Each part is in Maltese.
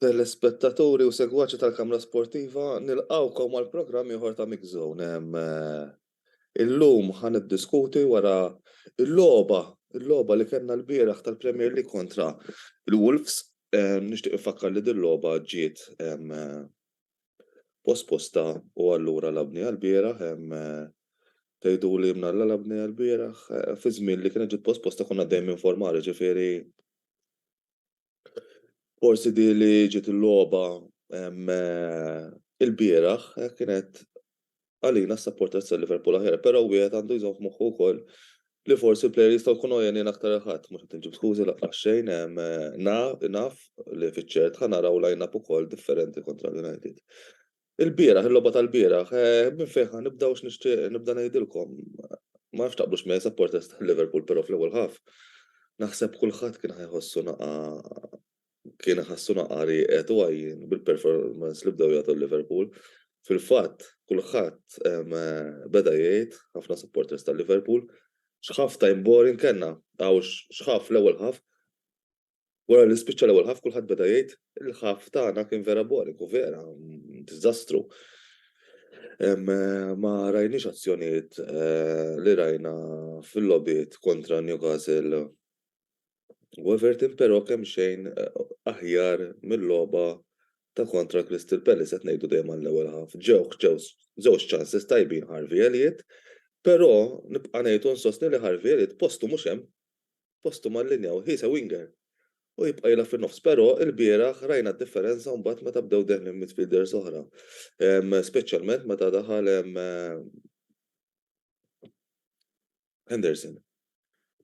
Telespettaturi u segwaċi tal-Kamra Sportiva, nilqgħukom għal programm ieħor ta' Mix Zone. Illum ħa niddiskuti wara l-logħba, il-logħba li kellna l-bieraħ tal-Premier League kontra l-Wolves. Nixtieq infakkar li din logħba ġiet posposta u allura l-apnea lbieraħ hemm tgħiduli mnalla l-apnea lbieraħ fi żmien li kienet ġiet posposta konna għaddejjin minn formar jiġifieri forsi din li ġiet il-logħba ilbieraħ kienet għalina s-supporters ta' Liverpool aħjar, però wieħed għandu jżomm f'moħħu wkoll li forsi l-players jistgħu jkunu għenin aktar il ħadd, mhux qed inġib skużi laqqas xejn, naf li fiċ-ċert ħa naraw line-up ukoll differenti kontra l-United. Il-bieraħ, il-logħba tal-bieraħ, minn fejn ħa nibda u x'nixtieq nibda ngħidilkom. Ma nafx taqblux miegħi supporters ta' Liverpool però fl-ewwel ħaf. Naħseb kulħadd kien ħa jħossu naqa' kien iħassuna qarieqed u għajjien bil-performance li bdew jagħtu l-Liverpool. Fil-fatt, kulħadd beda jgħid, ħafna supporters tal-Liverpool, x'ħaf time boring kellna, hawn x'ħaf l-ewwel ħaf. Wara li spiċċa l-ewwel ħaf kulħadd beda jgħid il-ħaf tagħna kien vera boring u vera diżastru. Ma rajniex azzjonijiet li rajna fil-logħbiet kontra Newcastle u Everton però kemxejn aħjar mil-logħba ta' kontra Crystal Palace qed ngħidu dejjem għall-ewwel half. Ġewh żewġ chances tajbin Harvey Elliott però nibqa' ngħid u nsostni li Harvey Elliott postu mhux hemm. Postu mal-linja u he is a winger u jibqa' jilgħab fin-nofs però ilbieraħ rajna d-differenza mbagħad meta bdew deħlin midfielders oħra speċjalment meta daħal Henderson.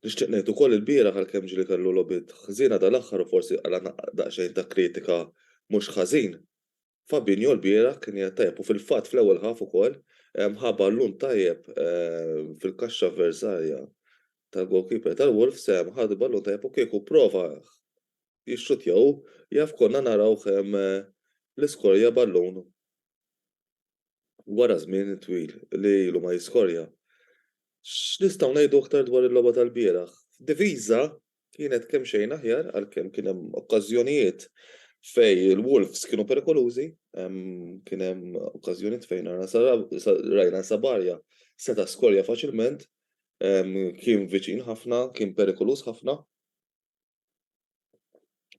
Nixtieq ngħid ukoll ilbieraħ għalkemm ġieli kellu logħbiet ħżiena dal-aħħar u forsi qala' daqsxejn ta' kritika mhux ħażin, Fabinho lbieraħ kien qiegħed tajjeb u fil-fatt fl-ewwel half ukoll ħa ballun tajjeb fil-kaxxa avversarja tal-goalkeeper tal-Wolves ħa ballun tajjeb u kieku pprova jixxuttja hu jaf konna narawh l-iskorja ballun Wara żmien twil li ilu ma jiskorja, x'nistgħu ngħidu aktar dwar il-logħba tal-bieraħ? F'diviża kienet kemxejn aħjar għalkemm kien hemm okkażjonijiet fejn il-Wolves kienu perikolużi, kien hemm okkażjonijiet fejn rajna Sabajja seta' skorja faċilment, kien viċin ħafna, kien perikoluż ħafna.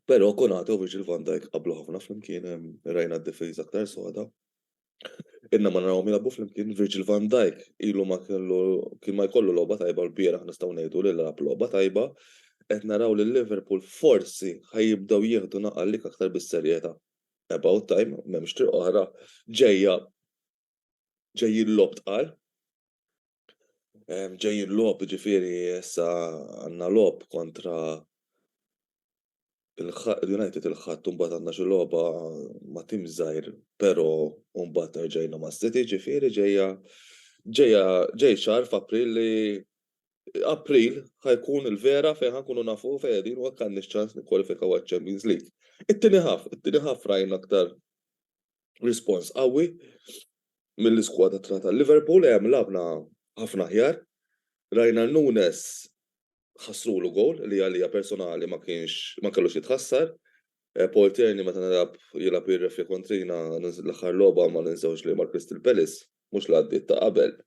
Però Konate u Virgil van Dijk qablu ħafna flimkien, rajna d-difiża aktar soda. Inna ma narawhom jilagħbu flimkien, Virgil van Dijk ilu ma kellu kien ma jkollu logħba tajba l-bieraħ nistgħu ngħidu li lagħab logħba tajba, qed naraw lil Liverpool forsi ħa jibdew jieħdu naqal lik aktar bis-serjetà. About time, m'hemmx triq oħra, ġejja ġejjin logħob tqal. ġejjin logħob jiġifieri issa għandna logħob kontra l-United il-Ħadd u mbagħad għandna xi logħba ma' tim żgħir però u mbagħad nerġajna ma' City ġifieri ġejja ġejja ġej xahar f'April li April ħajkun il-vera fejn ħankunu nafu fejn qegħdin u hekk għandniex ċans nikkwalifikaw għaċ-Champions League. It-tieni ħaf, it-tieni ħaf rajna aktar rispons qawwi mill-iskwadra tagħna tal-Liverpool, hemm lagħabna ħafna aħjar. Rajna Nunes ħassrulu gowl li għalija personali ma kienx ma kellux jitħassar. Eh, Paul Tierney meta nilgħab jilgħab jirrefja kontrina l-aħħar logħba ma ninsewx li mal-Crystal Palace mhux l ta' qabel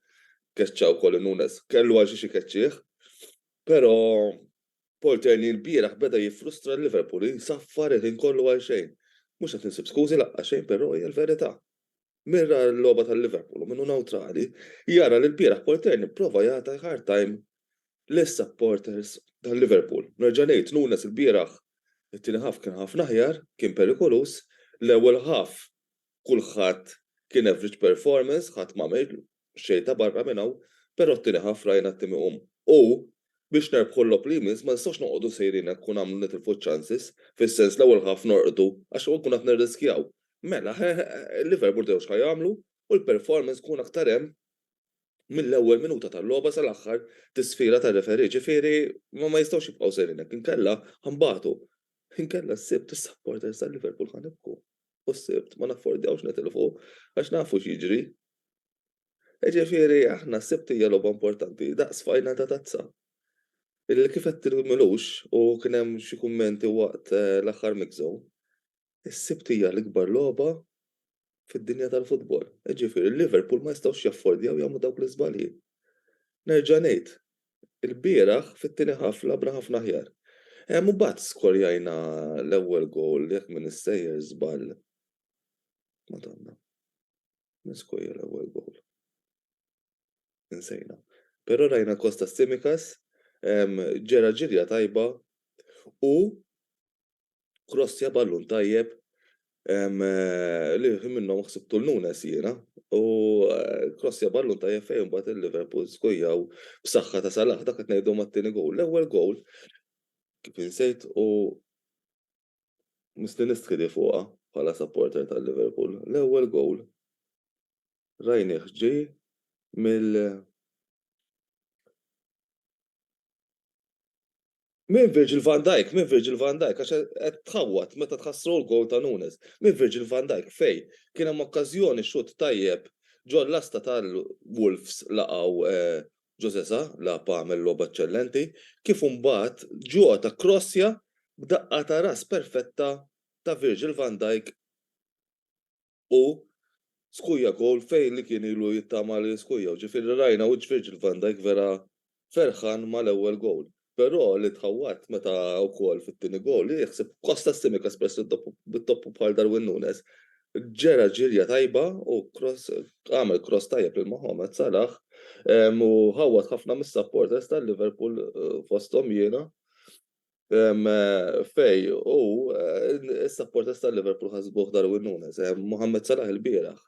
keċċaw kolli Nunes kellu għal xi xi keċċieħ. Però Porter li lbieraħ beda jiffrustra l-Liverpool insaffar il-ħin kollu għal xejn. Mhux qed insib skużi laqqa xejn però hija l-verità. Min ra l-logħba tal-Liverpool u min hu newtrali jara li lbieraħ Porter li pprova jagħta hard time lis-supporters tal-Liverpool. Nerġa' ngħid, Nunes lbieraħ it-tieni half kien ħafna aħjar, kien perikoluż, l-ewwel half kulħadd kien average performance, ħadd m'għamel Xejn ta' barra minn hawn, però t-tieni ħaff rajna t-tim iqum. U, biex nerbħu l-logħob li jmiss, ma nistgħux noqogħdu sejrin hekk u nagħmlu nitilfu ċ-chances, fis-sens l-ewwel ħaff norqdu, għax nkun qed nirriskjaw. Mela, ħeħ, Liverpool dew x'ħa jagħmlu, u l-performance tkun aktar hemm mill-ewwel minuta tal-logħba sal-aħħar tisfira tar-referee, ġifieri ma jistgħux jibqgħu sejrin hekk, inkella ħa nbatu. Inkella s-Sibt is-supporters tal-Liverpool ħa nibku. u s-Sibt ma naffordjawx nitilfu għax nafu x'jiġri. Jiġifieri aħna s-Sibt hija logħba importanti daqs final ta' tazza. Illi kif qed tgħid Milux u kien hemm xi kummenti waqt l-aħħar mix zone, is-Sibt hija l-ikbar logħba fid-dinja tal-futbol. Jiġifieri Liverpool ma jistgħux jaffordjaw jagħmlu dawk l-iżbalji. Nerġa' ngħid, il-bieraħ fit-tieni half lagħbna ħafna aħjar. Mbagħad skorjajna l-ewwel goal jekk minn issejjer żball. Madonna. Min skorja l-ewwel goal? Insejna. Però rajna Kostas Tsimikas ġera ġirja tajba u krossja ballun tajjeb li minnhom ħsibtu l-Nunes jiena u krossja ballun tajjeb fejn imbagħad il-Liverpool skujjaw b'saħħa ta' Salah dak qed ngħidu mat-tieni gowl. L-ewwel gowl kif insejt u misli nistħidi fuqha bħala supporter tal-Liverpool. L-ewwel gowl rajnih ġej mill Minn Virgil van Dijk, minn Virgil van Dijk, għax qed tħawwad meta tħassru l-goal ta' Nunes. Minn Virgil van Dijk fejn kien hemm okkażjoni xutt tajjeb ġol-lasta tal-Wolves laqgħu Jose Sa, laghab għamel logħba eċċellenti, kif imbagħad Jota kkrossja b'daqqa ta' ras perfetta ta' Virgil van Dijk. u skujja goal fejn li kien ilu jittama li jiskujjaw. Ġifieri rajna wiċċ Virgil van Dijk vera ferħan mal-ewwel goal. Però li tħawwadt meta wkoll fit-tieni goal, hi ħsieb Kostas Tsimikas peress li t-toppu bħal Darwin Nunez ġera ġirja tajba u cross għamel cross tajjeb lil Mohamed Salah u ħawwad ħafna mis-supporters tal-Liverpool fosthom jiena. Fej, u s-supporters tal-Liverpool ħasbuh Darwin Nunes, Mohamed Salah il-bieraħ.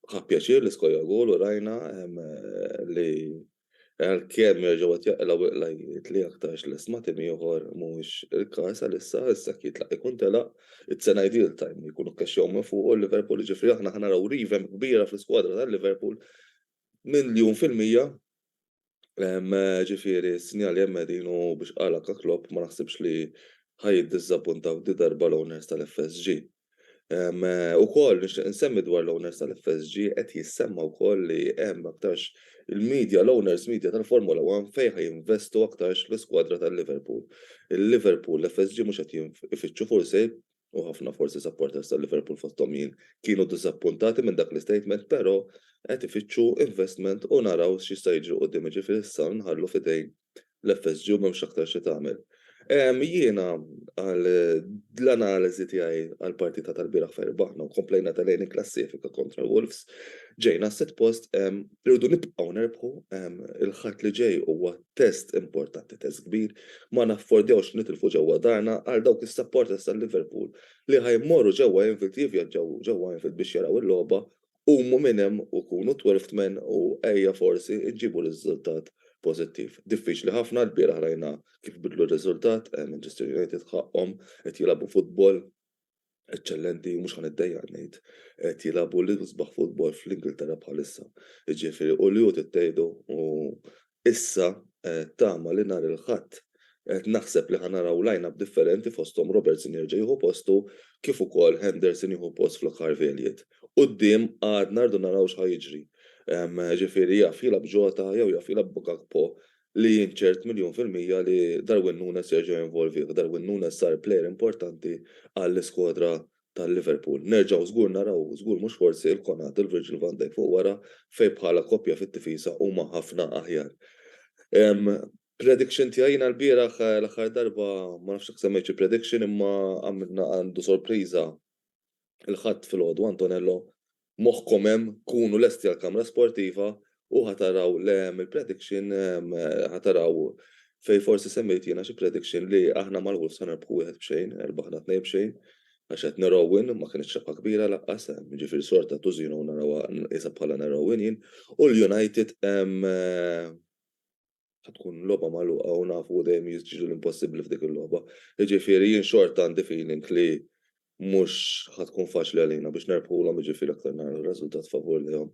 Ħa pjaċir li skorja gol u rajna li għalkemm jerġgħu qed jaqilgħu iqla jgħid li aktarx lest ma' tim ieħor mhuwiex il-każ għalissa, issa jekk jitlaq ikun telaq, it's an ideal time li jkunu kkaxxjaw minn fuqu l-Liverpool, jiġifieri aħna ħa naraw revamp kbira fl-iskwadra tal-Liverpool miljun fil-mija Ġifieri, s-sinjali hemm qegħdin u biex qal anke Klopp ma naħsibx li ħa jiddiżappuntaw din darba l-owners tal-FSG. Ukoll nixtieq insemmi dwar l-owners tal-FSG qed jissemma wkoll li hemm aktarx il-media, l-owners media tal-Formula One fejn ħa jinvestu aktarx fl-iskwadra tal-Liverpool. Il-Liverpool, l-FSG mhux qed ifittxu forsi u ħafna forsi supporters ta' Liverpool fosthom jien kienu disappuntati minn dak l-istatement pero qed ifittxu investment u naraw x'jista' jiġri quddiem jiġifieri issa nħallu f'idejn l-FSG u m'hemmx aktar xi tagħmel. Jiena għal l-analiżi tiegħi għall-partita tal-bieraħ fejn rbaħna u komplejna telgħin il-klassifika kontra l-Wolves ġejna s-sitt post irridu nibqgħu nerbħu il-Ħadd li ġej huwa Test importanti, test kbir. Ma naffordjawx li nitilfu ġewwa darna għal dawk is-supporters ta' Liverpool li ħa jmorru ġewwa Anfield jivvjaġġaw ġewwa Anfield biex jaraw il-logħba, qumu minn hemm u kunu twelfth men u ejja forsi nġibu riżultat pożittiv. Diffiċli ħafna, lbieraħ rajna kif bidlu r-riżultat, Manchester United ħaqqhom qed jilagħbu futbol. eċċellenti u mhux ħa niddejjaq ngħid, qed jilagħbu l-isbaħ futbol fl-Ingilterra bħalissa. Jiġifieri u li hu trid tgħidu u issa tama li nhar il-Ħadd qed naħseb li ħa naraw line-up differenti fosthom Robertson jerġa' jieħu postu kif ukoll Henderson jieħu post Flo Carveliet. Quddiem għadna rridu naraw x'ħa jiġri. Jiġifieri jaf jilgħab Jota jew jaf jilgħab Gakpo li jien ċert miljun fil-mija li Darwin Nunez jerġa' jinvolvih. Darwin Nunez sar plejer importanti għall-iskuadra tal-Liverpool. Nerġgħu żgur naraw, żgur mhux forsi, il-Konate u l-Virgil van Dijk fuq wara fejn bħala koppja fit-tifiża huma ħafna aħjar. Prediction tiegħi jiena l-bieraħ l-aħħar darba ma nafx jekk semmejt xi prediction imma għamilna għandu sorpriża Il-Ħadd filgħodu Antonello, moħħkom hemm, kunu lesti għall-kamra sportiva u ħa taraw le hemm il-prediction ħa taraw fejn forsi semmejt jiena xi prediction li aħna mal-Wolves ħa nerbħu wieħed b'xejn, erbaħna tnejn b'xejn, għax qed nerowin ma kinitx rebħa kbira laqqas, jiġifieri sorta tużino narawha qisha bħala nerowin jien, u l-United qed tkun logħba magħluqa u nafu dejjem jiġri l-impossibbli f'dik il-logħba. Jiġifieri jien xorta għandi feeling li mhux ħa tkun faċli għalina biex nerbħulhom jiġifieri aktar nagħmlu riżultat favur lihom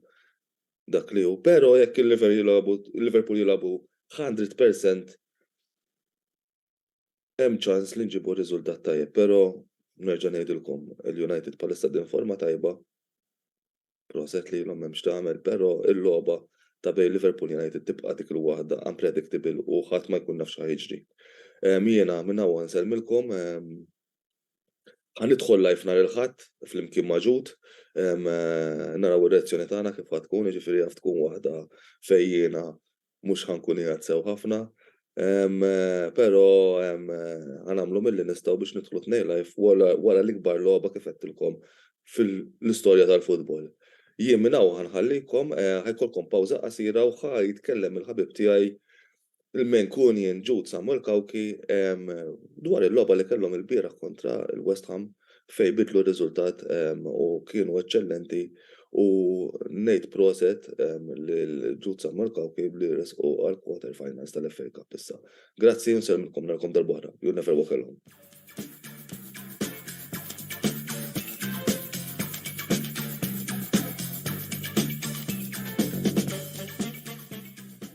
dak li hu. Però jekk il-Liverpool jilagħbu 100% Hemm ċans li nġibu riżultat tajjeb, però nerġa' ngħidilkom il-United bħalissa qegħdin f'forma tajba. Proset lilhom m'hemm x'tagħmel, però l-logħba ta' bejn Liverpool United tibqa' dik il-waħda unpredictable u ħadd ma jkun jaf x'ħa jiġri. Jiena minn hawn nsellmilkom. Ħa nidħol live nhar il-Ħadd flimkien ma' Jude. Naraw ir-reazzjoni tagħna kif ħa tkun, jiġifieri jaf tkun waħda fejn jiena mhux ħa nkun qiegħed sew ħafna, però ħa nagħmlu milli nistgħu biex nidħlu tnejn live wara l-ikbar logħba kif għedtilkom fil-istorja tal-futbol. Jien minn hawn ħa nħallikom, ħa jkollkom pawża qasira u ħa jitkellem il-ħabib tiegħi l-Mancunian Jude Samuel Cauchi dwar il-logħba li kellhom ilbieraħ kontra l-West Ham. fejn bidlu r-riżultat u kienu eċċellenti u ngħid proset lil Ġud San Mark Cauchi li resqu għall-quarter finals tal-FA Cup issa. Grazzi u nsellmilkom narakom darb'oħra. You'll never walk alone.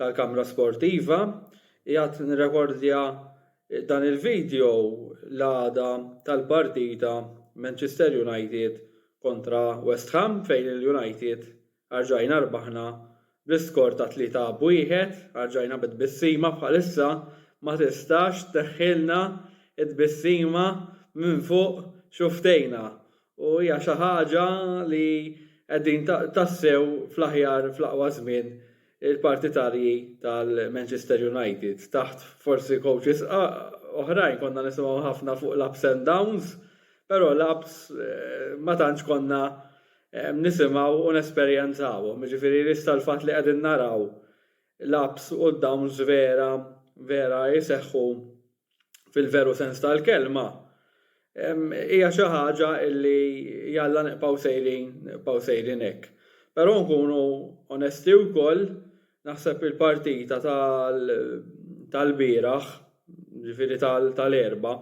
tal-Kamra Sportiva, qiegħed nirrekordja dan il-video l-għada tal-partita Manchester United kontra West Ham fejn il-United arġajna rbaħna bl-iskor ta' tlieta b'wieħed, arġajna bi tbissima bħalissa ma tistax tneħħilna t-tbissima minn fuq xufftejna u hija xi ħaġa li qegħdin tassew fl-aħjar fl-aqwa żmien il-partitarji tal-Manchester United. Taħt forsi coaches oħrajn konna nisimgħu ħafna fuq l-ups and downs, però l-ups ma tantx konna nisimgħu u nesperjenzawhom. Jiġifieri issa l-fatt li qegħdin naraw l-ups u d-downs vera vera jseħħu fil-veru sens tal-kelma, hija xi ħaġa li jalla nibqgħu sejrin, nibqgħu sejrin hekk. Però nkunu onesti wkoll, naħseb il-partita tal-bieraħ, ġifieri tal-Erbgħa,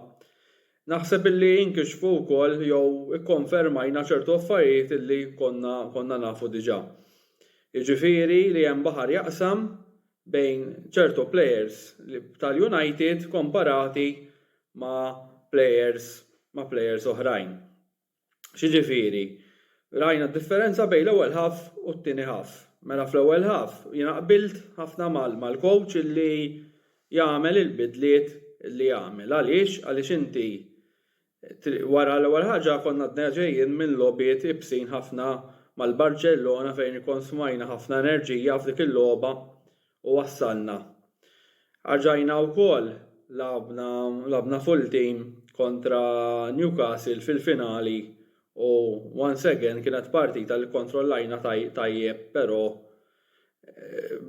naħseb li inkixfu wkoll jew ikkonfermajna ċertu affarijiet li konna nafu diġà. Jiġifieri li hemm baħar jaqsam bejn ċertu plejers tal-United komparati ma' plejers ma' plejers oħrajn. X'jiġifieri? Rajna d-differenza bejn l-ewwel half u t-tieni half. Mela fl-ewwel half jiena qbilt ħafna mal-coach li jagħmel il-bidliet li għamel. Għaliex? Għaliex inti Triq wara l-ewwel ħaġa konna għadna ġejjin minn logħbiet ibsin ħafna mal-Barċellona fejn ikkonsmajna ħafna enerġija f'dik il-logħba u wassalna. Rġajna wkoll lagħabna lagħabna full team kontra Newcastle fil-finali u once again kienet partita li kkontrollajna tajjeb pero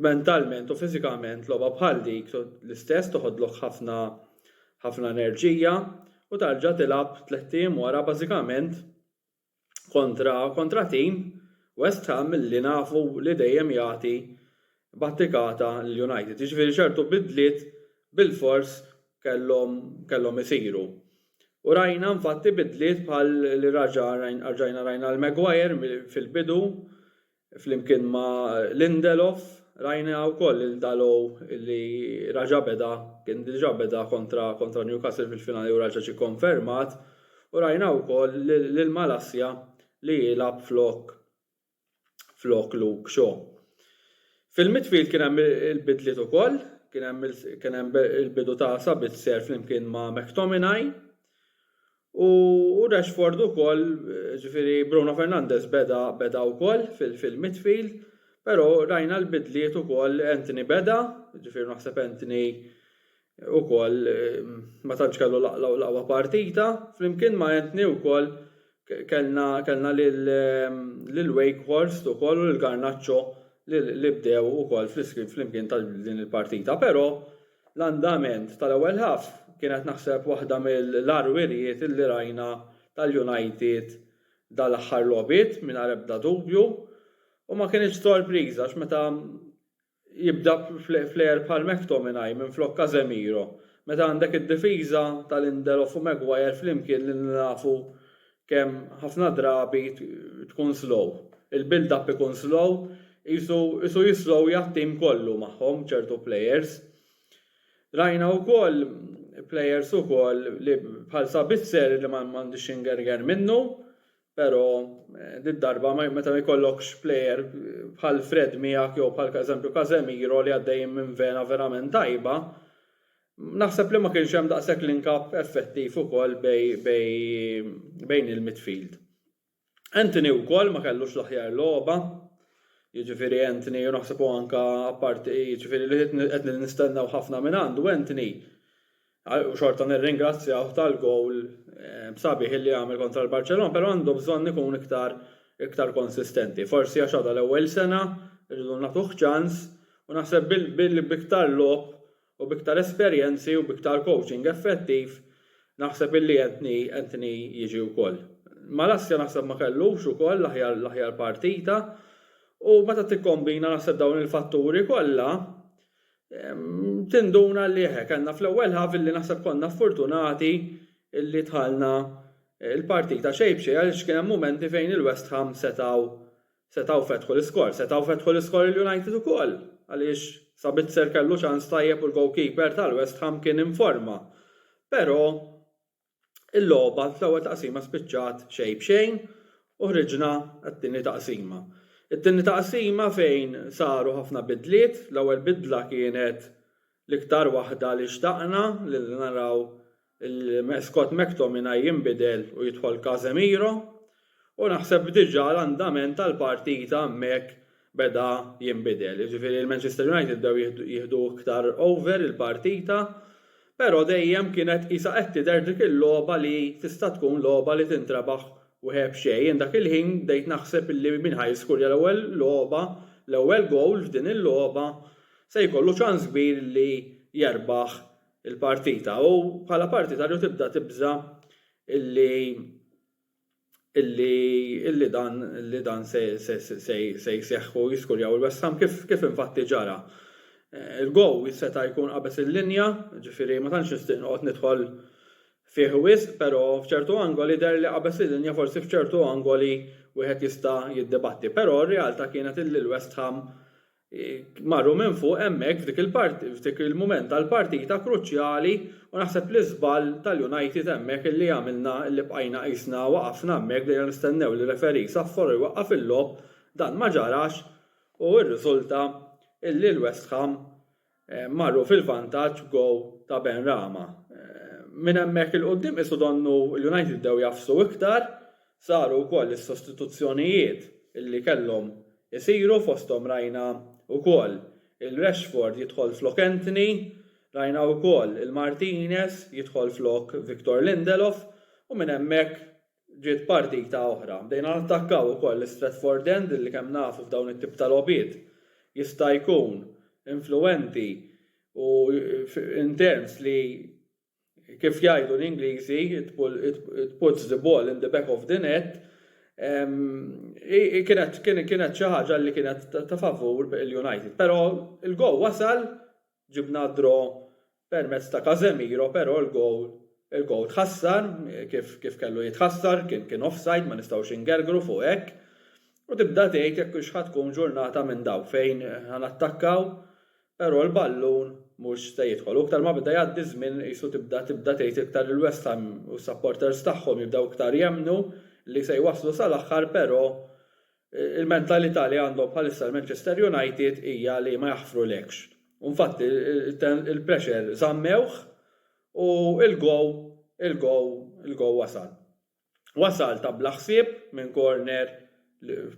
mentalment u fiżikament logħba bħal dik l-istess toħodlok ħafna ħafna enerġija u tarġa' tilgħab tlett ijiem wara bażikament kontra kontra tim West Ham li nafu li dejjem jagħti battikata lil United. Jiġifieri ċertu bidliet bilfors kellhom kellhom isiru. U rajna infatti bidliet bħal li raġa' rajna rajna rajna l-Maguire fil-bidu Flimkien ma' Lindelof rajna wkoll lil Dalot li raġa' beda, kien diġà beda kontra Newcastle fil-finali u raġa' ġie konfermat u rajna wkoll lil Malacia li jilgħab flok Luke Shaw. Fil-midfield kien hemm il-bidliet ukoll, kien hemm il-bidu ta' Sabitzer flimkien ma' McTominay U Rashford ukoll, ġifieri Bruno Fernandes beda beda wkoll fil-midfield, però rajna l-bidliet ukoll Antony beda, ġifieri naħseb Antony ukoll ma tantx kellu l-aqwa partita, flimkien ma' Antony wkoll kellna kellna lil Wakehorst ukoll u lil Garnacho li bdew ukoll flimkien ta' din il-partita, però, L-andament tal-ewwel half kienet naħseb waħda mill-agħar wirjiet illi rajna tal-United dal-aħħar logħbiet mingħajr ebda dubju u ma kinitx sorpriża għax meta jibda player bħal McTominay minflok Casemiro meta għandek id-difiża ta' Lindelof u Maguire flimkien li nafu kemm ħafna drabi tkun slow. Il-build up ikun slow, qisu qisu jislowja t-tim kollu magħhom ċertu players. Rajna wkoll players ukoll li bħal Sabitzer li m'għandix x'ingerger minnu, però did-darba meta ma jkollokx player bħal Fred miegħek jew bħal eżempju Casemiro li għaddejjin minn vena verament tajba, Naħseb li ma kienx hemm daqshekk link-up effettiv ukoll bejn il-midfield. Antony wkoll ma kellux l-aħjar logħba, jiġifieri Antony u naħseb u anke apparti jiġifieri li qed nistennew ħafna minn għandu Antony u xorta nirringrazzjawh tal-gowl sabiħ li għamel kontra l-Barċelona, però għandu bżonn ikun iktar iktar konsistenti. Forsi għax għadha l-ewwel sena, irridu nagħtuh ċans u naħseb b'iktar logħob U b'iktar esperjenzi u b'iktar coaching effettiv naħseb illi Anthony Anthony jiġi wkoll. Malassja naħseb ma kellux ukoll l-aħjar l-aħjar partita u meta tikkombina naħseb dawn il-fatturi kollha tinduna li eħe kellna fl-ewwel ħaf illi naħseb konna ffortunati illi dħalna il-partita xejn b'xejn għaliex kien hemm mumenti fejn il-West Ham setgħu Setgħu fetħu l-iskor. Setgħu fetħu l-iskor il-United ukoll għaliex Sabitzer kellu ċans tajjeb u l-goalkeeper tal-West Ham kien informa. Però il-logħba fl-ewwel taqsima spiċċat xejn b'xejn u ħriġna għat-tieni taqsima. It-tieni taqsima fejn saru ħafna bidliet, l-ewwel bidla kienet L-iktar waħda li xtaqna li naraw Scott McTominay jinbidel u jidħol Casemiro u naħseb diġà l-andament tal-partita hemmhekk beda jinbidel. Jiġifieri l-Manchester United bdew jieħdu iktar over il-partita però dejjem kienet qisha qed tidher dik il-logħba li tista' tkun logħba li tintrebaħ wħe b'xejn. Jien dak il-ħin bdejt naħseb li min ħa jiskurja l-ewwel logħba, l-ewwel goal f'din il-logħba. se jkollu ċans kbir li jerbaħ il-partita u bħala partitarju tibda tibża' li li dan li dan se se jseħħ u jiskurjaw il-West Ham kif kif infatti ġara. Il-gowl seta' jkun qabeż il-linja, ġifieri ma tantx nixtieq noqgħod nidħol fih wisq però f'ċertu angoli deher li qabeż il-linja forsi f'ċertu angoli wieħed jista' jiddibatti. Però r-realtà kienet illi l-West Ham Marru minn fuq hemmhekk f'dik il-part f'dik il-mument tal-partita kruċjali u naħseb li żball tal-United hemmhekk illi għamilna illi bqajna qisna waqafna hemmhekk bdejna nistennew li referee jsaffor u jwaqqaf il-logħob dan ma ġarax u rriżulta illi l-West Ham marru fil-vantaġġ b'gowl ta' Benrahma. Minn hemmhekk 'il quddiem qisu donnu l-United bdew jagħfsu iktar, saru wkoll is-sostituzzjonijiet li kellhom isiru fosthom rajna wkoll lil Rashford jidħol flok Antony, rajna wkoll lil Martinez jidħol flok Victor Lindelof u minn hemmhekk Ġiet partita oħra. Bdejna nattakkaw ukoll l-Stretford End li kemm nafu f'dawn it-tip ta' logħbiet jista' jkun influwenti u intenz li kif jgħidu l-Ingliżi it puts the ball in the back of the net kienet xi ħaġa li kienet ta' favur il-United. Però l-goal wasal, ġibna d-draw Permezz ta' Casemiro però l-gowl tħassar kif kellu jitħassar, kien offside ma nistgħux ingergru fuq hekk. U tibda tgħid jekk hux ħa tkun ġurnata minn dawn fejn ħa nattakkaw però l-ballun mhux se jidħol. U iktar ma beda jgħaddi ż-żmien qisu tibda tibda tgħid iktar li l-West Ham u s-supporters tagħhom jibdew iktar jemmnu li se jwasslu sal-aħħar però Il-mentalità li għandhom bħalissa l-Manchester United hija li ma jaħfrulekx. U nfatti il-pressure żammewh u l-goal il-goal il-goal wasal. Wasal ta' bla ħsieb minn corner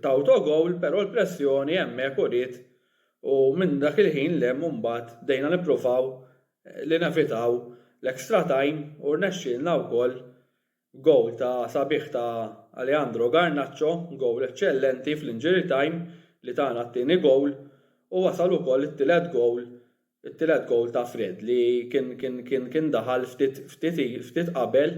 ta' autogoal, però l-pressjoni hemmhekk uriet u minn dak il-ħin 'l hemm imbagħad bdejna nippruvaw li nevitaw l-extra time u rnexxielna wkoll Gowl ta' sabiħ ta' Alejandro Garnacho, gowl eċċellenti fl-injury time li tana t-tieni gowl u wasal ukoll it-tielet gowl, it-tielet gowl ta' Fred li kien kien daħal ftit qabel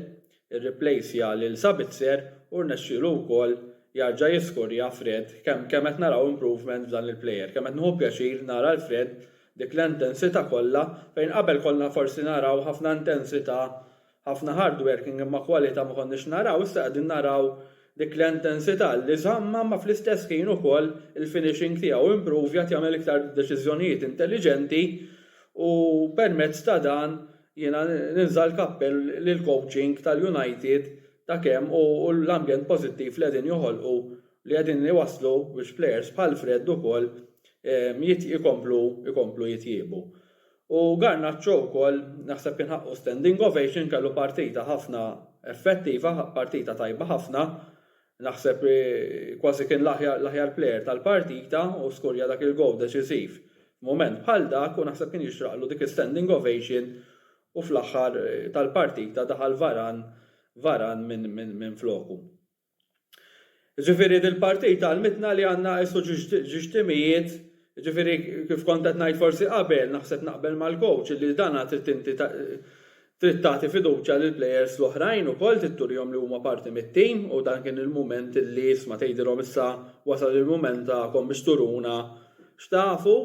irriplejsja lil Sabitzer u rnexxielu wkoll jarġa' jiskorja Fred kemm kemm qed naraw improvement f'dan il-player, kemm qed nieħu pjaċir nara 'l Fred dik l-intensità kollha fejn qabel konna forsi naraw ħafna intensità Ħafna hardworking imma kwalità ma konniex naraw, issa qegħdin naraw dik l-entensità li żammha imma fl-istess ħin ukoll il-finishing tiegħu improvjat jagħmel iktar deċiżjonijiet intelliġenti u permezz ta' dan jiena ninża' l-kappell lill-coaching tal-United ta' kemm hu l-ambjent pożittiv li qegħdin joħolqu li qegħdin iwasslu biex players bħal Fred ukoll jkomplu jkomplu jitjiebu. U Garnacho wkoll naħseb kien ħaqqu standing ovation kellu partita ħafna effettiva, partita tajba ħafna, naħseb kważi kien l-aħjar player tal-partita u skurja dak il-goal deċisiv f'mument bħal dak u naħseb kien jixraqlu dik is-standing ovation u fl-aħħar tal-partita daħal Varan Varan minfloku. Ġifieri dil-partit għallmitna li għandna nqisu ġiex timijiet, ġifieri kif kont qed ngħid forsi qabel, naħseb naqbel mal-coach illi dana trid inti trid tagħti fiduċja lill-players l-oħrajn ukoll trid turihom li huma parti mit-team u dan kien il-mument illi isma' tgħidilhom issa wasal il-mument tagħkom biex turuna x'tafu.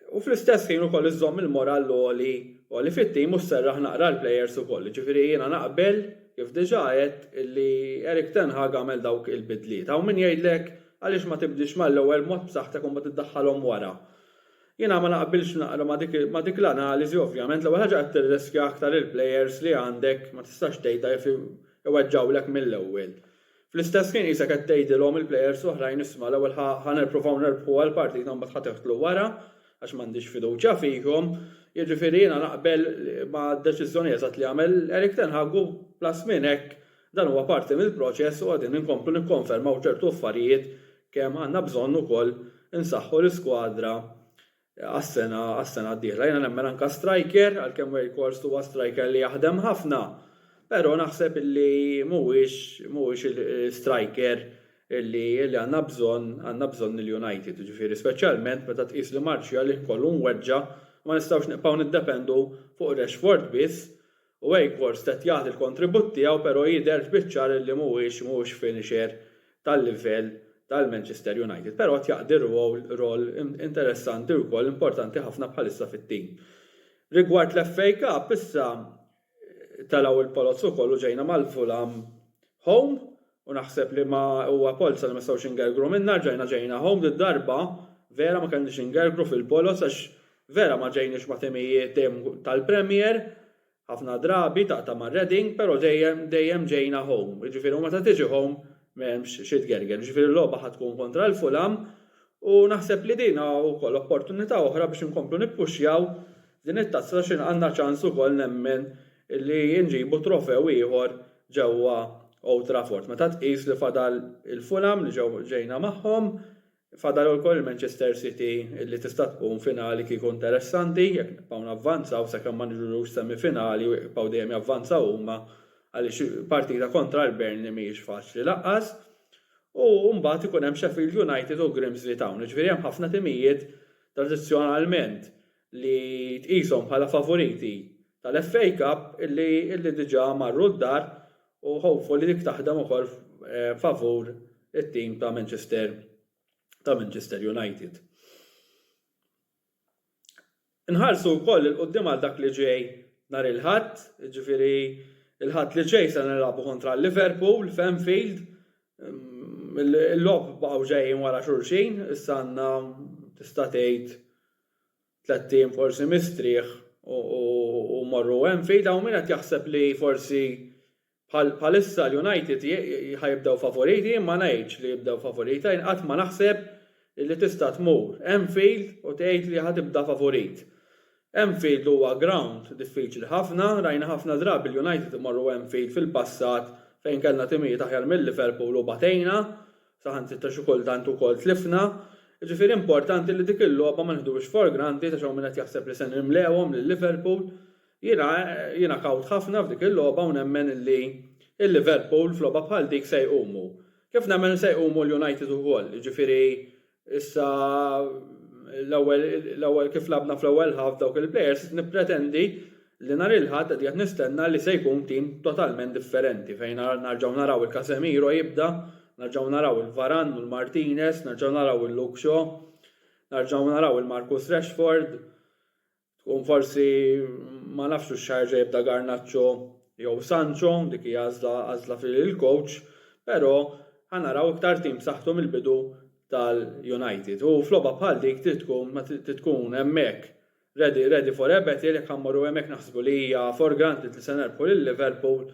U fl-istess ħin ukoll iżżomm il-morall għoli għoli fit-tim u sserraħ naqra l-plejers ukoll. Jiġifieri jiena naqbel, kif diġà għedt, illi Erik ten Hag għamel dawk il-bidliet. Hawn min jgħidlek għaliex ma tibdilx mal-ewwel b'mod b'saħħtek u mbagħad iddaħħalhom wara. Jiena ma naqbilx naqra ma' dik l-analiżi ovvjament. L-ewwel ħaġa qed tirriskja aktar il-plejers li għandek ma tistax tgħid għaliex iweġġgħulek mill-ewwel. Fl-istess ħin qisek qed tgħidilhom il-plejers l-oħrajn isma' l-ewwel ħa ħa nirpruvaw nerbħu għall-partita mbagħad ħa teħdlu wara għax m'għandix fiduċja fihom. Jiġifieri jiena naqbel mad-deċiżjoni eżatt li għamel Erik ten Hag u plus minn hekk dan huwa parti mill-proċess u qegħdin inkomplu nikkonfermaw ċertu affarijiet kemm għandna bżonn ukoll insaħħu l-iskwadra għas-sena għas-sena d-dieħla. Jiena nemmen anke striker, għalkemm Weghorst huwa striker li jaħdem ħafna, però naħseb illi mhuwiex mhuwiex il-striker illi illi għandna bżonn għandna bżonn il-United, jiġifieri speċjalment meta tqis li Martial jkollu mweġġa' ma nistgħux nibqgħu niddependu fuq Rashford biss U Wakefors qed jagħti l-kontribut tiegħu pero jidher biċ-ċar illi mhuwiex mhuwiex finisher tal-livell tal-Manchester United. Pero qed jaqdi rwowl rol interessanti u wkoll importanti ħafna bħalissa fit-tim. Rigward l-FA Cup issa telgħu l-polozzo kollu ġejna mal-Fulham home U naħseb li ma huwa polz li ma nistgħux ingergru minnha, rġajna ġejna home did-darba, vera ma kellniex ingergru fil-poloz għax vera ma ġejniex ma' timijiet dejjem tal-Premier, ħafna drabi taqta' ma' Reading, però dejjem dejjem ġejna home. Jiġifieri u meta tiġi home m'hemmx xi tgerger. Jiġifieri l-logħba ħa tkun kontra l-Fulham U naħseb li din wkoll opportunità oħra biex inkomplu nippuxjaw f'din it-tazza għax għandna ċans ukoll nemmen li nġibu trofew ieħor ġewwa Old Trafford. Meta tqis li fadal il-Fulham li ġejna magħhom, fadal ukoll il-Manchester City li tista' tkun finali kieku interessanti jekk nibqgħu navvanzaw sakemm ma niġux semifinali u jibqgħu dejjem javvanzaw huma għaliex partita kontra l-Burnley mhijiex faċli lanqas. U mbagħad ikun hemm Sheffield United u Grimsby Town. Jiġifieri hemm ħafna timijiet tradizzjonalment li tqishom bħala favoriti tal-FA Cup illi diġà marru d-dar u hopefully dik taħdem ukoll favur it-tim ta' Manchester ta' Manchester United. Inħarsu wkoll 'il quddiem għal dak li ġej nhar il-Ħadd, jiġifieri l-Ħadd li ġej se nilagħbu kontra Liverpool f'Anfield. Il-logħob baqgħu ġejjin wara xulxin, issa għandna tista' tgħid tlett ijiem forsi mistrieħ u mmorru Anfield. Hawn min qed jaħseb li forsi Bħalissa l-United ħa jibdew favoriti, jien ma ngħidx li jibdew favorita, jien qatt ma naħseb li tista' tmur Anfield u tgħid li ħa tibda favorit. Anfield huwa ground diffiċli ħafna, rajna ħafna drabi l-United imorru Anfield fil-passat fejn kellna timijiet aħjar minn Liverpool u batejna, saħansitra xi kultant ukoll tlifna. Jiġifieri importanti li dik il-logħba ma nieħduhiex for granted għax hawn min qed jaħseb li se nimlewhom lil Liverpool. Jiena jiena kawt ħafna f'dik il-logħba u nemmen illi il-Liverpool f'logħba bħal dik se jqumu. Kif nemmen li se jqumu l-United ukoll, jiġifieri issa l-ewwel l-ewwel kif lagħbna fl-ewwel half b'dawk il-players nippretendi li nhar il-Ħadd qed qiegħed nistenna li se jkun tim totalment differenti fejn narġgħu naraw il-Casemiro jibda, narġgħu naraw il-Varane u l-Martinez, narġgħu naraw il-Luke Shaw, narġgħu naraw il-Marcus Rashford, Tkun forsi ma nafx hux ħajerġa' jibda Garnacho jew Sancho, dik hi għażla għażla fil-coach, però ħa naraw iktar tim b'saħħtu mill-bidu tal-United. U f'logħba bħal dik trid tkun ma trid tkun hemmhekk ready ready for a battle, jekk ħa mmorru hemmhekk naħsbu li hija for granted li se nerbħu lil Liverpool,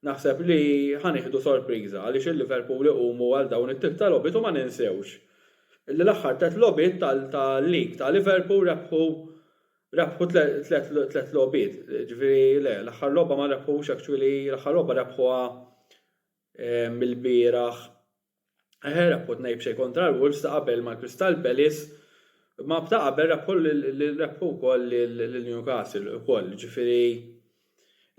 naħseb li ħa nieħdu sorpriża għaliex il-Liverpool iqumu għal dawn it-tip ta' logħbiet u ma ninsewx L-aħħar tliet logħbiet tal-League ta' Liverpool rebħu rebħu tliet logħbiet. Ġifieri le, l-aħħar logħba ma rebħux actually, l-aħħar logħba rebħuha mill-bieraħ. Eħe rebħu tnej b'xejn kontra l-Wolves ta' qabel mal-Crystal Palace ma ta' qabel rebħu rebħu wkoll lil Newcastle ukoll. Ġifieri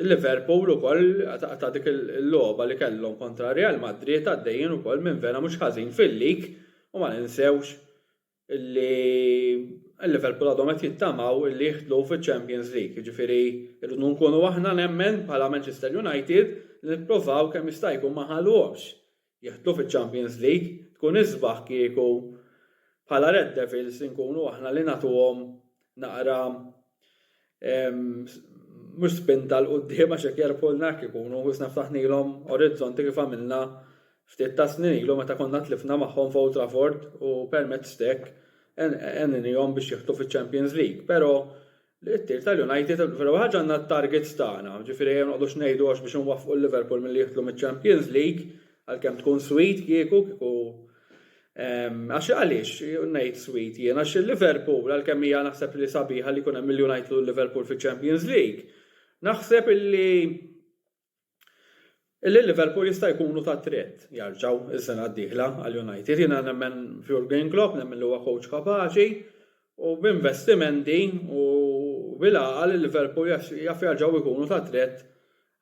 Il-Liverpool ukoll ta' dik il-logħba li kellhom kontra Real Madrid għaddejjin ukoll minn vera mhux ħażin fil-lig u ma ninsewx li l-Liverpool għadhom qed jittamaw li jidħlu fiċ-Champions League. Jiġifieri rridu nkunu aħna nemmen bħala Manchester United li nipprovaw kemm jista' jkun ma nħalluhomx jidħlu fiċ-Champions League, tkun isbaħ kieku bħala Red Devils inkunu aħna li nagħtuhom naqra mhux spinta 'l quddiem għax hekk jerbħulna hekk ikunu wisna ftaħnilhom orizzonti kif għamilna ftit tas-snin ilu meta konna tlifna magħhom f'Old Trafford u permezz t'hekk għeninihom biex jidħlu fiċ-Champions League. Però li ttir tal-United vera ħaġa għandna t-targets tagħna, ġifieri ejja ma noqgħodux ngħidu għax biex inwaffqu l-Liverpool milli jidħlu miċ-Champions League, għalkemm tkun sweet kieku, kieku għax għaliex ngħid sweet jien għax il-Liverpool għalkemm hija naħseb li sabiħa li jkun hemm il-United u l-Liverpool fiċ-Champions League, naħseb illi Illi Liverpool jista' jkunu ta' triq jarġgħu is-sena d-dieħla għal United. Jiena nemmen f'Jurgen Klopp, nemmen li huwa coach kapaċi u b'investimenti u bil-għaqal il-Liverpool jaf jarġgħu jkunu ta' triq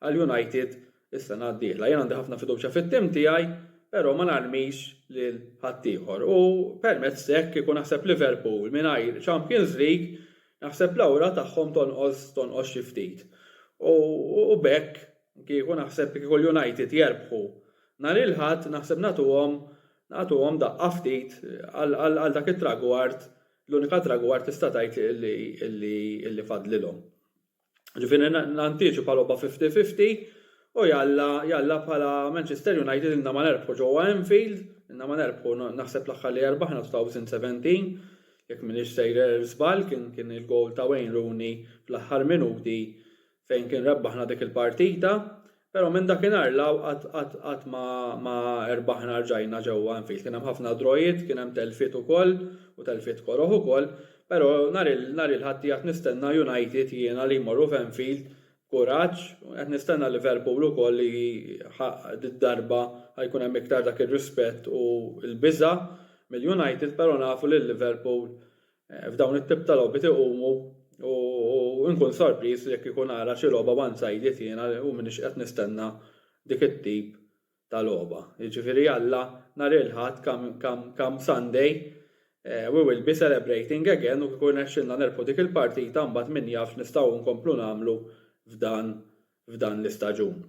għal United is-sena d-dieħla. Jien għandi ħafna fiduċja fit-tim tiegħi, però ma narmix lil ħaddieħor. U permezz hekk kieku naħseb Liverpool mingħajr Champions League Naħseb l-awra tagħhom tonqos tonqos xi ftit. U u b'hekk kieku naħseb kieku l-United jerbħu nhar il-Ħadd naħseb nagħtuhom nagħtuhom daqqa ftit għal għal dak it-tragward l-unika tragward tista' tgħid li li li fadlilhom. Ġifieri nantiċipa logħba 50-50 u jalla jalla bħala Manchester United inna ma nerbħu ġewwa Anfield, inna ma nerbħu naħseb l-aħħar li erbaħna 2017 jekk minix sejjer żball kien kien il-gowl ta' Wayne Rooney fl-aħħar minuti fejn kien rebbaħna dik il-partita. Però minn dakinhar 'l hawn qatt qatt qatt ma ma erbaħna rġajna ġewwa Enfield. Kien hemm ħafna drawiet, kien hemm telfiet ukoll u telfiet koroh ukoll, però nhar il nhar il-Ħadd qiegħed nistenna United jiena li jmorru f'Enfield b'kuraġġ, qed nistenna Liverpool ukoll li ħa did-darba ħa jkun hemm iktar dak ir-rispett u l-biża' mill-United, però nafu li l-Liverpool F'dawn it-tip ta' logħbiet iqumu u nkun sorpriż jekk ikun ara xi logħba one-sided jiena u m'iniex qed nistenna dik it-tip ta' logħba. Jiġifieri Alla nhar il-Ħadd come Sunday we will be celebrating again u kieku rnexxilna nerbħu dik il-partita mbagħad min jaf x'nistgħu nkomplu nagħmlu f'dan f'dan l-istaġun.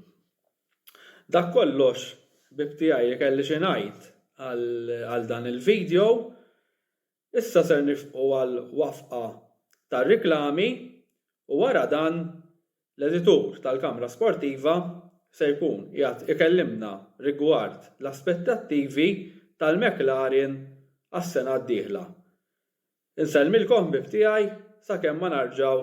Dak kollox ħbieb tiegħi li kelli xi ngħid għal dan il-video. Issa ser nifqu għal wafqa tar-riklami u wara dan l-editur tal-Kamra Sportiva se jkun qiegħed ikellimna rigward l-aspettattivi tal-McLaren għas-sena d-dieħla. Insellmilkom ħbieb tiegħi sakemm ma narġgħu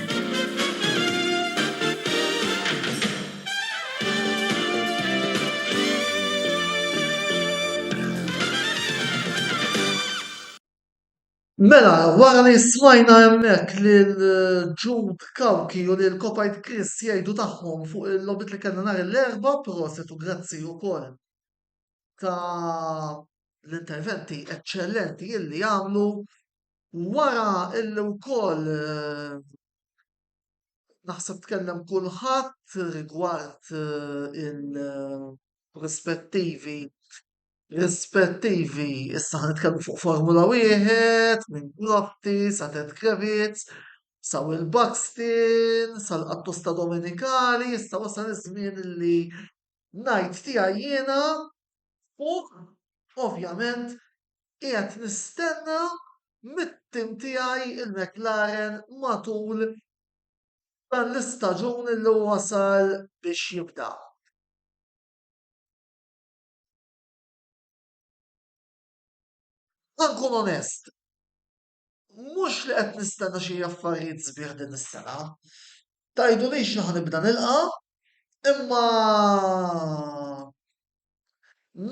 Mela, wara li smajna hemmhekk lil Jude Cauchi u lil Kopajt Chris jgħidu tagħhom fuq il-logħbiet li kellna nhar l-Erbgħa, prosit u grazzi wkoll ta' l-interventi eċċellenti illi għamlu, Wara illi wkoll naħseb tkellem kulħadd rigward il-rispettivi, rispettivi, issa ħa nitkellmu fuq Formula Wieħed, minn Grotti sa Ted Kravitz, sa Will Buxton, sal-qattusta Domenicali, issa wasal iż-żmien illi ngħid tiegħi jiena fuq ovvjament Qiegħed nistenna mit-tim tiegħi l-McLaren matul dan l-istaġun li wasal biex jibda. Ħa nkun onest, mhux li qed nistenna xi affarijiet sbieħ din is-sena. Tgħidulix li ħa nibda nilqa', imma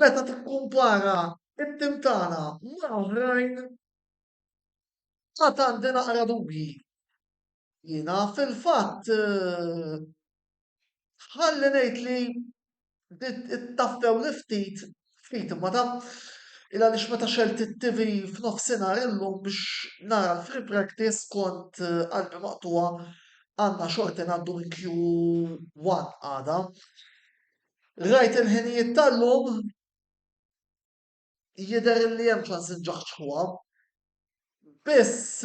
meta tikkumpara t-tim tagħna ma' oħrajn għad għandi naqra dubji. Jiena fil-fatt ħalli ngħid li Ittaffewli ftit, ftit imma ta'. Illa għaliex meta xegħelt it-TV f'nofsinhar illum biex nara l-free practice kont qalbi maqtugħa, għandna xorti ngħaddu minn Q one għada. Rajt il-ħinijiet tal-lum. jidher li hemm ċans inġaħġħuha. Biss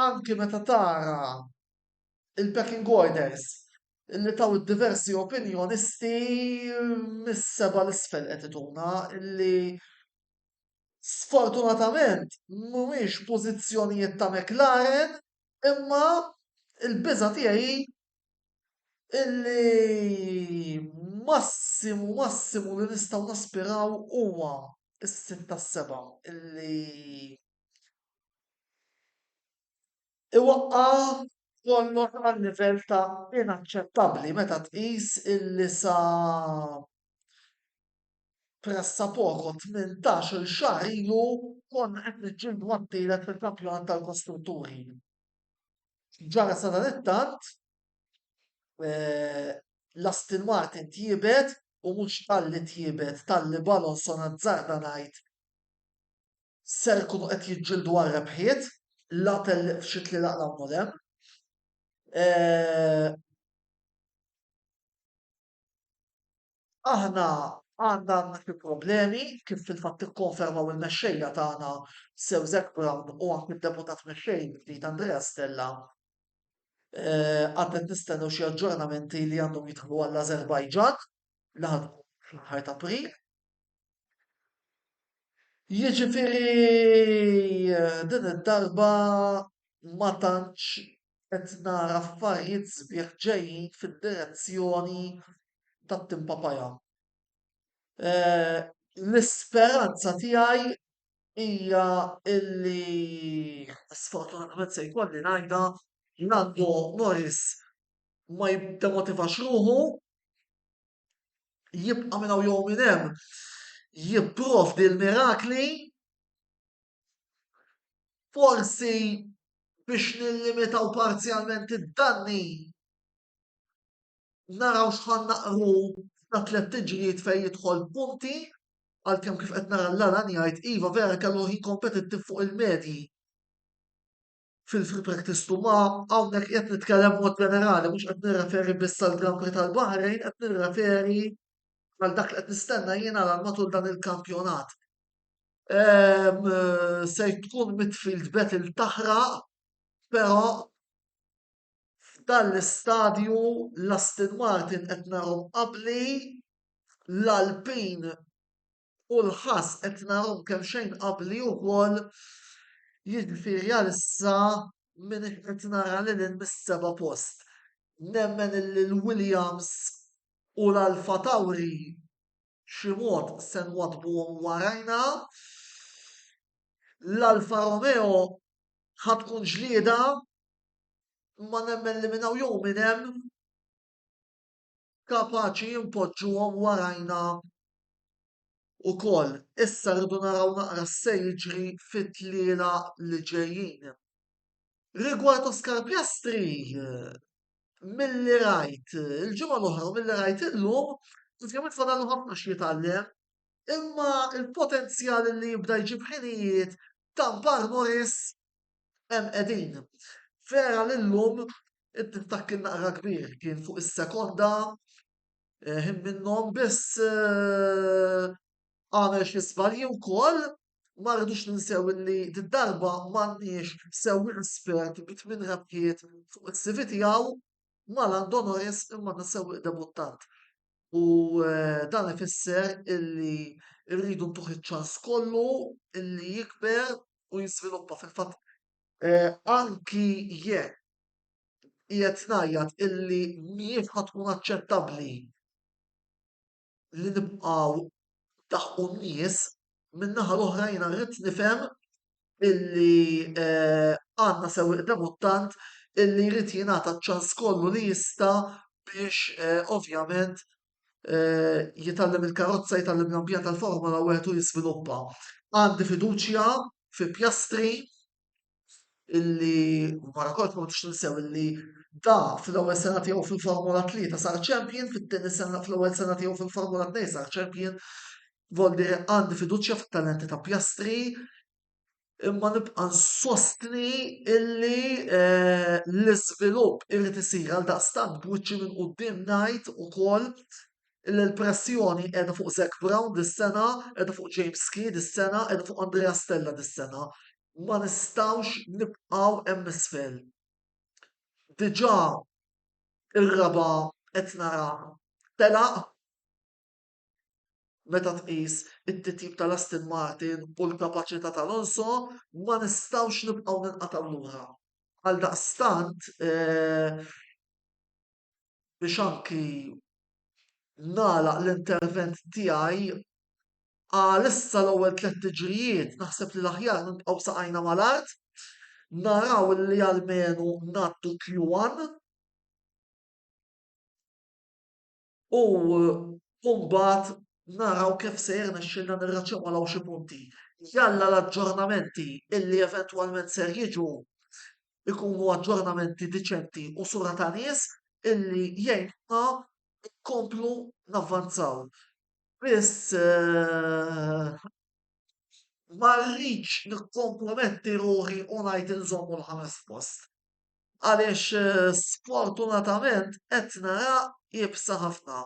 anki meta tara il-pecking orders li taw id-diversi opinjonisti mis-seba' 'l isfel qed ituna li sfortunatament mhumiex pożizzjonijiet ta' McLaren imma l-biża' tiegħi hi illi massimu massimu li nistgħu naspiraw huwa s-sit tas-seba' illi iwaqqa' kollox għal livell ta' inaċċettabbli meta tqis illi sa pressapoko tmintax-il xahar ilu konna qed niġġieldu għat-tielet fil-kampjonat tal-kostrutturi. X'ġara sadanittant? L-Aston Martin tjiebet u mhux talli tjiebet, talli b'Alonso nazzarda ngħid ser ikunu qed jiġġieldu għar-rebħiet, la tellieq f'xi tlielaq hawn u hemm. Aħna għandna għandna xi problemi kif fil-fatt ikkonfermaw il-mexxejja tagħna Sir Zac Brown u anki d-Deputat Mexxej il-ġdid Andrea Stella. Għad qed nistennew xi aġġornamenti li għandhom jidħlu għall-Azerbajġan li ħa tkun fl-aħħar ta' April. Jiġifieri din id-darba ma tantx Qed nara affarijiet sbieħ ġejjin fid-direzzjoni tat-tim Papaya. L-isperanza tiegħi hija li sfortunatament se jkolli ngħidha Lando Norris ma jiddemotivax ruħu, jibqa' minn hawn jew minn hemm jipprovdi l-mirakli Forsi biex nillimitaw parzjalment id-danni naraw x'ħan naqru ta' tliet tiġrijiet fejn jidħol punti għalkemm kif qed nara l-Alan jgħid iva vera kellu ħin kompetittiv fuq il-medji. Fil-free practice tu ma hawnhekk qed nitkellem mod ġenerali, mhux qed nirreferi biss għal Grand Prix tal-Baħrejn, qed nirreferi għal dak li qed nistenna jiena għal matul dan il-kampjonat. Ehm, se tkun midfield battle taħraq, però f'dan l-istadju l-Aston Martin qed narhom qabli l-Alpin u l-ħass qed narahom kemxejn qabbli wkoll, jiġifieri għalissa m'iniex qed nara lil hinn mis-seba' post. Nemmen illi l-Williams u l-Alpha Tauri b'xi mod se nwaddbuhom warajna. L-Alpha Romeo ħa tkun ġlieda imma nemmen li minn hawn jew minn hemm kapaċi npoġġuhom warajna wkoll. Issa rridu naraw naqra se jiġri fit-tliela li ġejjin. Rigward Oscar Piastri, milli rajt il-ġimgħa l-oħra u milli rajt illum, ovvjament fadallu ħafna x'jitgħallem, imma il-potenzjal li jibda jġib ħinijiet ta' Bar Morris hemm qegħdin. Vera li llum Id-distakk kien naqra kbir, kien fuq is-sekonda, ħin minnhom biss għamel xi żbalji wkoll. Ma rridux ninsew li darba m'għandniex sewwieq espert bi tmien rebħiet fuq is-CV tiegħu mal-għan d'onoris imma għandna sewwieq debuttant. U dan ifisser illi rridu ntuh iċ-ċans kollu illi jikber u jiżviluppa. Fil-fatt anki jekk qiegħed ngħajjat illi mhijiex ħa tkun aċċettabbli li nibqgħu ndaħħqu n-nies, min-naħa l-oħra jiena rrid nifhem illi għandna sewwieq debuttant illi jrid jingħata ċ-ċans kollu li jista' biex ovvjament jitgħallem il-karozza, jitgħallem l-ambjent tal-Formula Wieħed u jiżviluppa. Għandi fiduċja fi Piastri illi wara kollox ma nistgħux ninsew illi da fl-ewwel sena tiegħu fil-Formula 3 sar champion, fit-tieni sena fl-ewwel sena tiegħu fil-Formula 2 sar champion. Voldi għandi fiduċja fit-talenti ta' Pjastri, imma nibqa' nsostni illi eh, l-iżvilupp irid isir għal daqstant b'wiċċi minn quddiem ngħid ukoll Il-pressjoni qiegħda fuq Zac Brown dis-sena, qiegħda fuq James Key dis-sena, qiegħda fuq Andrea Stella dis-sena. Ma nistgħux nibqgħu hemm isfel. Diġà ir-raba' qed nara telaq meta tqis it-titjib tal-Aston Martin u l-kapaċità tal-Alonso, ma nistgħux nibqgħu ninqatgħu lura. Għaldaqstant, eh, biex anki nagħlaq l-intervent tiegħi għal issa l-ewwel tliet tiġrijiet naħseb li l-aħjar nibqgħu saqajna mal-art, naraw li almenu ngħaddu Q1 u mbagħad naraw kif se jirnexxilna nirraċemolaw xi punti. Jalla l-aġġornamenti li eventwalment ser jiġu ikunu aġġornamenti diċenti u sura ta' nies illi jgħinuna nkomplu navvanzaw. Biss ma rridx nikkomprometti ruħi u ngħid inżommu l-ħames post. Għaliex sfortunatament qed nara iebsa ħafna.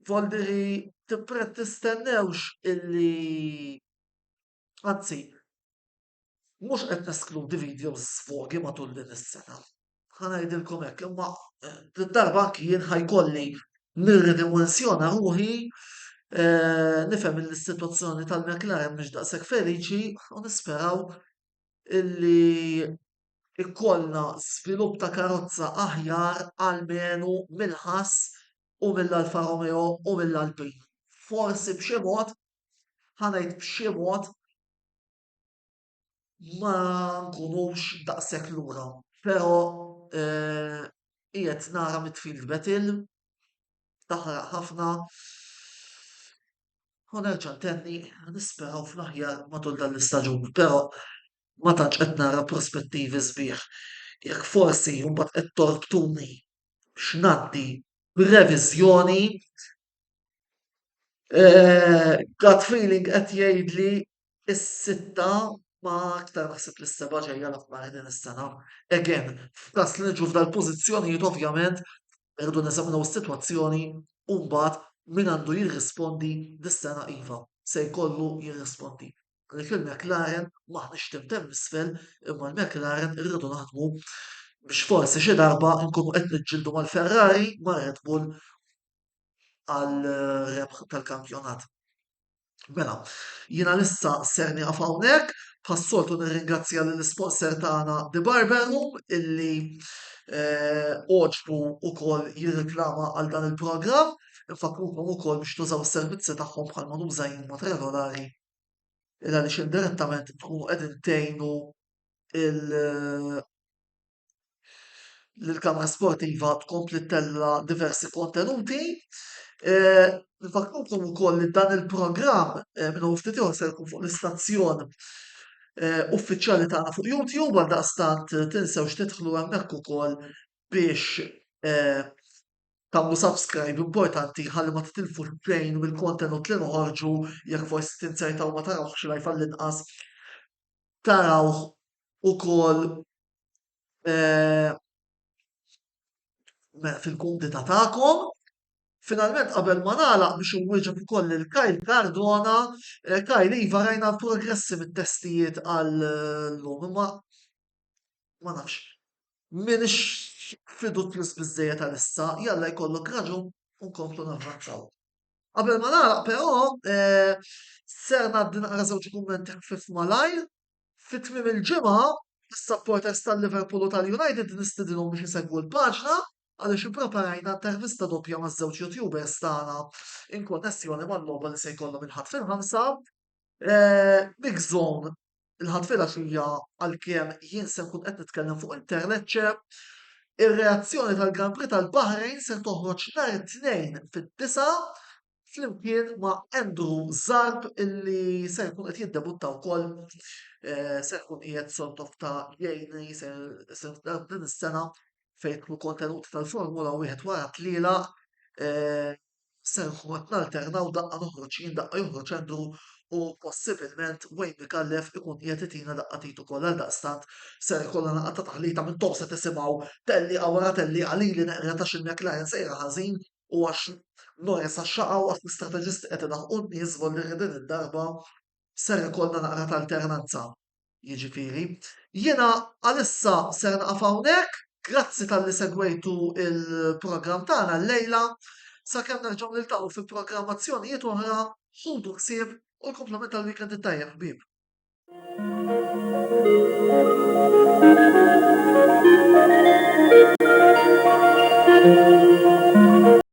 Voldiri tippret tistennewx illi anzi Mhux qed neskludi videos sfogi matul din is-sena. Ħa ngħidilkom hekk, imma eh, din darba anki jien ħajkolli nirridimensjona ruħi eh, nifhem li s-sitwazzjoni tal-McLaren mhix daqshekk feliċi u nisperaw illi ikollna żvilupp ta' karozza aħjar għalmenu mill-ħass u mill-Alfa Romeo u mill-Alpin. Forsi b'xi mod ħa ngħid b'xi mod, ma nkunux daqshekk lura. Però qiegħed nara midfield battle, taħraq ħafna, u nerġa' ntenni nisperaw fl-aħjar matul dan l-istaġun, però ma tantx qed nara prospettivi sbieħ. Jekk forsi mbagħad qed torbtuni biex ngħaddi b'reviżjoni Eh, gut feeling qed jgħidli s-sitta, ma aktar naħseb li s-seba' ġejja l-aħbar din is-sena. Again, f'każ li niġu f'dal-pożizzjonijiet ovvjament irridu neżaminaw is-sitwazzjoni u mbagħad min għandu jirrispondi dis-sena iva, se jkollu jirrispondi. Għalhekk il-McLaren m'aħniex tim t'hemm isfel imma l-McLaren irridu naħdmu biex forsi xi darba nkunu qed niġġieldu mal-Ferrari, mar-Red Bull għal rebħ tal-kampjonat. Mela, jina lissa ser nieqaf hawnhekk, bħas-soltu nirringrazzja lill sponsor tagħna The Barber Room illi eh, oġbu ukoll jirriklama għal dan il-programm. Infakrukom ukoll biex tużaw is-servizzi tagħhom bħal ma nuża jien mod regolari. Illa li indirettament tkunu qegħdin tgħinu il- l-kamra sportiva tkompli tella diversi kontenuti. E, Nfakrukom ukoll li dan il-programm e, minn ftit ieħor se jkun fuq l-istazzjon e, uffiċjali tagħna fuq YouTube għal daqstant tinsewx tidħlu hemmhekk ukoll biex tagħmlu subscribe importanti ħalli ma titilfu xejn mill-kontenut li noħorġu jekk forsi tinsejtaw ma tarawx live għall-inqas tarawh ukoll fil-kumdità tagħkom. Finalment qabel ma nagħlaq biex inwieġeb ukoll lil Kyle Cardona, eh, Kyle iva rajna l-progressi mit-testijiet għal lum, imma ma nafx. Min fidut plus biżejjed għal issa, jalla jkollok raġun u nkomplu navvanzaw. Qabel ma nagħlaq però eh, ser ngħaddi naqra żewġ kummenti ħfif malajr. Fi tmiem il-ġimgħa, is-supporters tal-Liverpool u tal-United nistidilhom biex isegwu l-paġna għaliex ippreparajna intervista doppja ma' żewġ youtubers tagħna in konnessjoni mal-logħba li se jkollhom il-ħadd fil-ħamsa. Eh, Big Zone il-ħatfira fija għalkemm jien se nkun qed nitkellem fuq il-Terlecce. Ir-reazzjoni tal-Grand Prix tal-Bahrain se toħroġ nhar it-tnejn fid-disa flimkien ma' Andrew Zarb illi se jkun qed jiddebutta wkoll eh, se jkun qiegħed sort of ta' jgħinni se din is-sena fejn kienu kontenuti tal-Formula wieħed wara tliela eh, se nkun nalterna u daqqa noħroġ jien daqqa joħroġ Andrew u possibilment Wayne Micallef ikun qiegħed itina daqqa t'id ukoll għaldaqstant ser ikollna laqgħa ta' taħlita minn tof se tisimgħu tellieqa wara tellieqa lili neqred għax il-McLaren sejra ħażin u għax Norris għax xaqaw għax l-istrateġisti qed ilaħħqu n-nies żvolli li din id-darba ser ikollna naqra t'alternanza. Jiġifieri, jiena għalissa ser naqaf hawnhekk, grazzi talli segwejtu il-programm tagħna llejla. Sakemm nerġgħu niltaqgħu fi programmazzjonijiet oħra, ħudu ħsieb u l-kumplament tal-weekend it-tajjeb ħbieb.